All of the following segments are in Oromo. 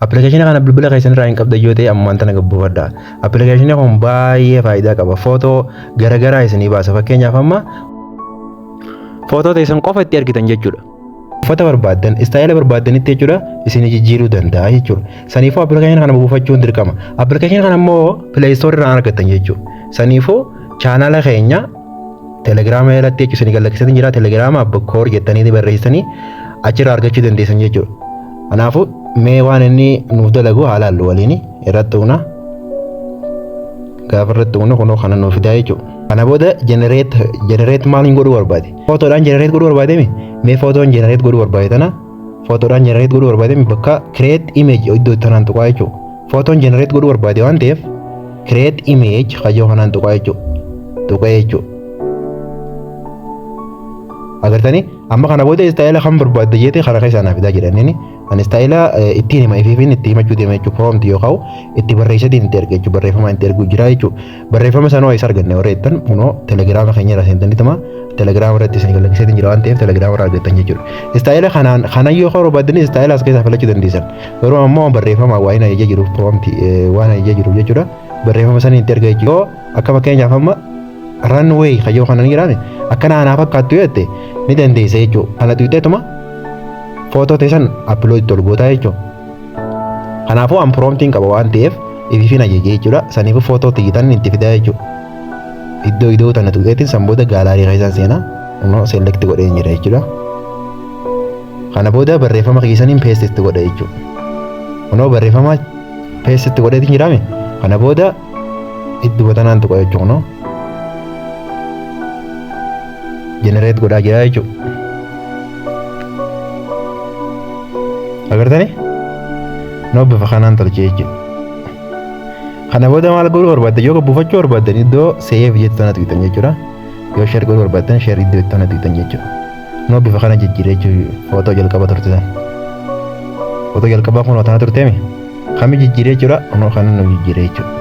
Appilikeeshinii kana bilbila keessan irraa hin qabdan yoo ta'e ammaan tana gad buufadha. Appilikeeshinii kun baay'ee faayidaa qaba. Footoo garagaraa isinii baasa. Fakkeenyaaf amma footoo teessan qofa itti argitan jechuudha. Uffata barbaaddan, istaayila barbaaddanitti jechuudha isin jijjiiruu danda'a jechuudha. Saniifuu appilikeeshinii kana buufachuun dirqama. Appilikeeshinii kana immoo pileeyistoorri irraa argattan jechuudha. Saniifuu chaanaala keenya Telegiraama jalatti jechuun isin gallakkisanii jira telegiraama abba koor jettanii barreessanii achirraa argachuu dandeessan jechuudha. Kanaafuu mee waan inni nuuf dalagu haa laallu waliin irratti uuna. Gaafa irratti uuna kunoo kana nuuf fidaa jechuudha. Kana booda jenereet jenereet maal hin godhuu barbaade? Footoodhaan jenereet godhuu barbaade mee footoon jenereet godhuu barbaade tana Footoodhaan jenereet godhuu barbaade bakka kireet imeej iddoo itti kanaan tuqaa jechuudha. Footoon jenereet godhuu barbaade waan ta'eef kireet imeej kajoo kanaan tuqaa jechuudha. Tuqee jechuudha. Agartanii amma kana booda istaayila kan barbaadde jeete kana keessaa naaf fidaa jedhaniini. Ani istaayila ittiin hima ifiifiin itti himachuu deema jechuudha. Proomti yoo ka'u itti barreessatiin itti erga jechuudha. Barreeffamaan itti erguu jira jechuudha. Barreeffama sanoo isa arganne warra jettan kunoo telegiraama keenya irraa seentanii tuma telegiraama irratti isin galmeessee jira waan ta'eef telegiraama irraa argattan jechuudha. Istaayila kanaan kanan yoo kaa'uu barbaaddanis istaayila as keessaa filachuu dandeessan. Garuu ammoo barreeffama waa'een ajajaa jiru proomti waan ajajaa jiru jechuudha. Barreeffama sana itti argaa jechuudha. Yoo akka fakkeenyaaf amma runway kayyoo kanan jedhame akkana anaa fakkaattu yoo jette ni dandeessa jechuudha. Kana tuqxeetuma footoo teessan appiloodii tolgootaa jechuudha. Kanaafuu an promptiin qaba waan ta'eef ifiifin ajaje jechuudha. Saniifuu footoo tiyyitan itti fidaa jechuudha. Iddoo idoo tana tuqeetiin san booda gaalaarii keessan seenaa immoo select godheen jira jechuudha. Kana booda barreeffama keessaniin paste itti godha jechuudha. Kunoo barreeffama paste itti godheetiin jiraame kana booda idduma tanaan tuqa jechuudha. generate godhaa jira jechuudha. Agartanii? Noo bifa kanaan tolche jechuudha. Kana booda maal godhuu barbaadde yoo buufachuu barbaaddan iddoo save jettu tana tuqxan jechuudha. Yoo share godhuu barbaaddan share iddoo jettu tana tuqxan jechuudha. Noo bifa kana jijjiire jechuudha footoo jalqaba turte sana. Footoo jalqabaa kun tana turteemi. Kami jijjiire jechuudha. Noo kana nu jijjiire jechuudha.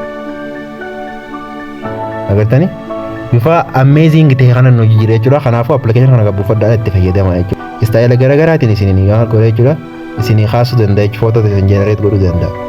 agartanii bifa amazing ta'e kanan hojii jira jechuudha kanaafuu appilikeeshinii kana gabbifadhaan itti fayyadama jechuudha istaayila garaagaraatiin isin waan godha jechuudha isin kaasuu danda'a jechuudha footota isin jenereet godhuu danda'a.